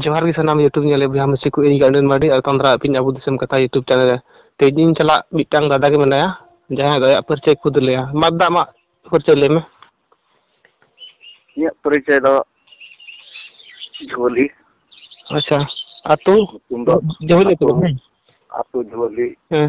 ᱡᱚᱦᱟᱨ ᱜᱮ ᱥᱟᱱᱟᱢ ᱤᱭᱩᱴᱩᱵᱽ ᱧᱮᱞᱮᱫ ᱵᱚᱭᱦᱟ ᱢᱤᱥᱤ ᱠᱚ ᱤᱧ ᱜᱮ ᱟᱱᱫᱚᱱ ᱢᱟᱨᱰᱤ ᱟᱨ ᱛᱟᱢ ᱫᱟᱨᱟ ᱛᱮᱦᱮᱧ ᱟᱵᱚ ᱫᱤᱥᱚᱢ ᱠᱟᱛᱷᱟ ᱤᱭᱩᱴᱩᱵᱽ ᱪᱮᱱᱮᱞ ᱨᱮ ᱛᱮᱦᱮᱧᱤᱧ ᱪᱟᱞᱟᱜ ᱢᱤᱫᱴᱟᱝ ᱫᱟᱫᱟ ᱜᱮ ᱢᱮᱱᱟᱭᱟ ᱡᱟᱦᱟᱸᱭ ᱫᱚ ᱟᱭᱟᱜ ᱯᱟᱹᱨᱪᱟᱹᱭ ᱠᱷᱩᱫ ᱞᱟᱹᱭᱟ ᱢᱟ ᱫᱟ ᱟᱢᱟᱜ ᱯᱟᱹᱨᱪᱟᱹ ᱞᱟᱹᱭ ᱢᱮ ᱤᱧᱟᱹᱜ ᱯᱚᱨᱤᱪᱚᱭ ᱫᱚ ᱡᱷᱩᱣᱟᱹᱞᱤ ᱟᱪᱪᱷᱟ ᱟᱛᱳ ᱧᱩᱛᱩᱢ ᱫᱚ ᱡᱟᱹᱦᱩᱞᱤ ᱟᱛᱳ ᱟᱛᱩ ᱡᱷᱩᱣᱟᱹᱞᱤ ᱦᱮᱸ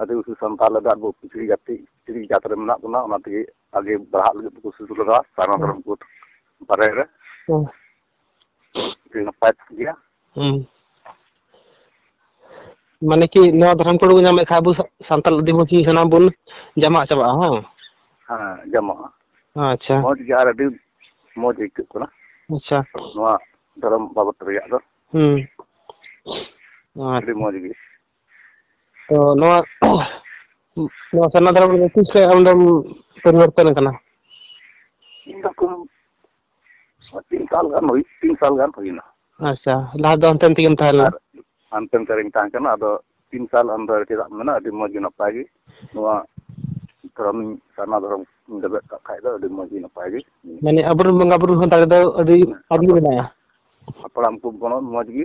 ᱟᱹᱫᱤᱵᱟᱹᱥᱤ ᱥᱟᱱᱛᱟᱲ ᱞᱮᱠᱟ ᱟᱵᱚ ᱯᱤᱯᱤᱲᱤ ᱡᱟᱹᱛᱤ ᱯᱤᱯᱤᱲᱤ ᱡᱟᱛ ᱨᱮ ᱢᱮᱱᱟᱜ ᱵᱚᱱᱟ ᱚᱱᱟ ᱛᱮᱜᱮ ᱟᱜᱮ ᱵᱟᱲᱦᱟᱜ ᱞᱟᱹᱜᱤᱫ ᱛᱮᱠᱚ ᱥᱩᱨᱩ ᱞᱮᱫᱟ ᱛᱟᱭᱢᱟ ᱫᱷᱚᱨᱚᱢ ᱠᱚ ᱵᱟᱨᱦᱮ ᱨᱮ ᱟᱹᱰᱤ ᱱᱟᱯᱟᱭ ᱜᱮᱭᱟ ᱢᱟᱱᱮ ᱠᱤ ᱱᱚᱣᱟ ᱫᱷᱚᱨᱚᱢ ᱠᱚ ᱠᱚ ᱧᱟᱢᱮᱫ ᱠᱷᱟᱱ ᱟᱵᱚ ᱥᱟᱱᱛᱟᱲ ᱟᱹᱫᱤᱵᱟᱹᱥᱤ ᱥᱟᱱᱟᱢ ᱵᱚᱱ ᱡᱟᱢᱟᱜ ᱪᱟᱵᱟᱜᱼᱟ ᱦᱮᱸ ᱦᱮᱸ ᱡᱟᱢᱟᱜᱼᱟ ᱟᱪᱪᱷᱟ ᱢᱚᱡᱽ ᱜᱮ ᱟᱨ ᱟᱹᱰᱤ ᱢᱚᱡᱽ ᱟᱹᱭᱠᱟᱹᱜ ᱠᱟᱱᱟ ᱟᱪᱪᱷᱟ ᱱᱚᱣᱟ ᱫᱷᱚᱨᱚᱢ ᱵᱟᱵᱚᱛ ᱨᱮᱭᱟᱜ ᱫᱚ ᱦᱩᱸ ᱟᱹᱰᱤ ᱢᱚᱡᱽ ᱜᱮ ᱛᱚ ᱱᱚᱣᱟ ᱱᱚᱣᱟ ᱥᱟᱨᱱᱟ ᱫᱷᱚᱨᱚᱢ ᱨᱮᱫᱚ ᱛᱤᱥ ᱠᱷᱚᱱ ᱟᱢ ᱫᱚᱢ ᱯᱚᱨᱤᱵᱚᱨᱛᱚᱱ ᱟᱠᱟᱱᱟ? ᱤᱧ ᱫᱚ ᱠᱚᱢ ᱛᱤᱱ ᱥᱟᱞ ᱜᱟᱱ ᱦᱩᱭ ᱛᱤᱱ ᱥᱟᱞ ᱜᱟᱱ ᱦᱩᱭᱱᱟ᱾ ᱟᱪᱪᱷᱟ ᱞᱟᱦᱟ ᱫᱚ ᱦᱟᱱᱛᱮ ᱱᱟᱛᱮ ᱛᱮᱜᱮᱢ ᱛᱟᱦᱮᱸ ᱞᱮᱱᱟ? ᱦᱟᱱᱛᱮ ᱱᱟᱛᱮ ᱨᱤᱧ ᱛᱟᱦᱮᱸ ᱠᱟᱱᱟ ᱟᱫᱚ ᱛᱤᱱ ᱥᱟᱞ ᱟᱢᱫᱚ ᱪᱮᱫᱟᱜ ᱢᱮᱱᱟ ᱟᱹᱰᱤ ᱢᱚᱡᱽ ᱜᱮ ᱱᱟᱯᱟᱭ ᱜᱮ ᱱᱚᱣᱟ ᱫᱷᱚᱨᱚᱢ ᱤᱧ ᱥᱟᱨᱱᱟ ᱫᱷᱚᱨᱚᱢ ᱤᱧ ᱞᱮᱵᱮᱫ ᱠᱟᱜ ᱠᱷᱟᱡ ᱫᱚ ᱟᱹᱰᱤ ᱢᱚᱡᱽ ᱜᱮ ᱱᱟᱯᱟᱭ ᱜᱮ᱾ ᱢᱟᱱᱮ ᱟᱵᱚᱨᱮᱱ ᱵᱚᱸᱜᱟ ᱵᱩᱨᱩ ᱦᱚᱸ ᱫᱟᱲᱮ ᱫᱚ ᱟᱹᱰᱤ ᱟᱹᱰᱤ ᱢᱮᱱᱟᱭᱟ᱾ ᱦᱟᱯᱲᱟᱢ ᱠᱚ ᱵᱚᱱᱚ ᱢᱚᱡᱽ ᱜᱮ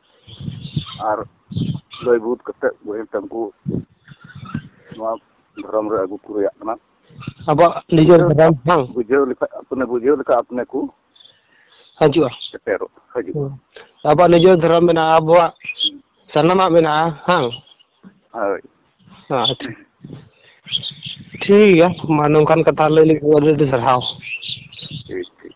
ᱟᱨ ᱞᱟᱹᱭ ᱵᱩᱫ ᱠᱟᱛᱮᱫ ᱵᱚᱦᱤᱨ ᱛᱮ ᱩᱱᱠᱩ ᱱᱚᱣᱟ ᱫᱷᱚᱨᱚᱢ ᱨᱮ ᱟᱹᱜᱩ ᱠᱚ ᱨᱮᱭᱟᱜ ᱠᱟᱱᱟ ᱟᱵᱚᱣᱟᱜ ᱱᱤᱡᱮᱨ ᱫᱷᱚᱨᱚᱢ ᱵᱟᱝ ᱵᱩᱡᱷᱟᱹᱣ ᱞᱮᱠᱟ ᱟᱯᱱᱮ ᱵᱩᱡᱷᱟᱹᱣ ᱞᱮᱠᱟ ᱟᱯᱱᱮ ᱠᱚ ᱦᱤᱡᱩᱜᱼᱟ ᱥᱮᱴᱮᱨᱚᱜ ᱦᱤᱡᱩᱜᱼᱟ ᱟᱵᱚᱣᱟᱜ ᱱᱤᱡᱮᱨ ᱫᱷᱚᱨᱚᱢ ᱢᱮᱱᱟᱜᱼᱟ ᱟᱵᱚᱣᱟᱜ ᱥᱟᱱᱟᱢᱟᱜ ᱢᱮᱱᱟᱜᱼᱟ ᱵᱟᱝ ᱦᱳᱭ ᱟᱪᱪᱷᱟ ᱴᱷᱤᱠ ᱜᱮᱭᱟ ᱢᱟ ᱱᱚᱝᱠᱟᱱ ᱠᱟᱛᱷᱟ ᱞᱟᱹᱭ ᱞᱟᱹᱜᱤᱫ ᱟᱹᱰᱤ ᱟᱹᱰᱤ ᱥᱟᱨᱦᱟᱣ ᱴᱷᱤᱠ ᱴᱷᱤᱠ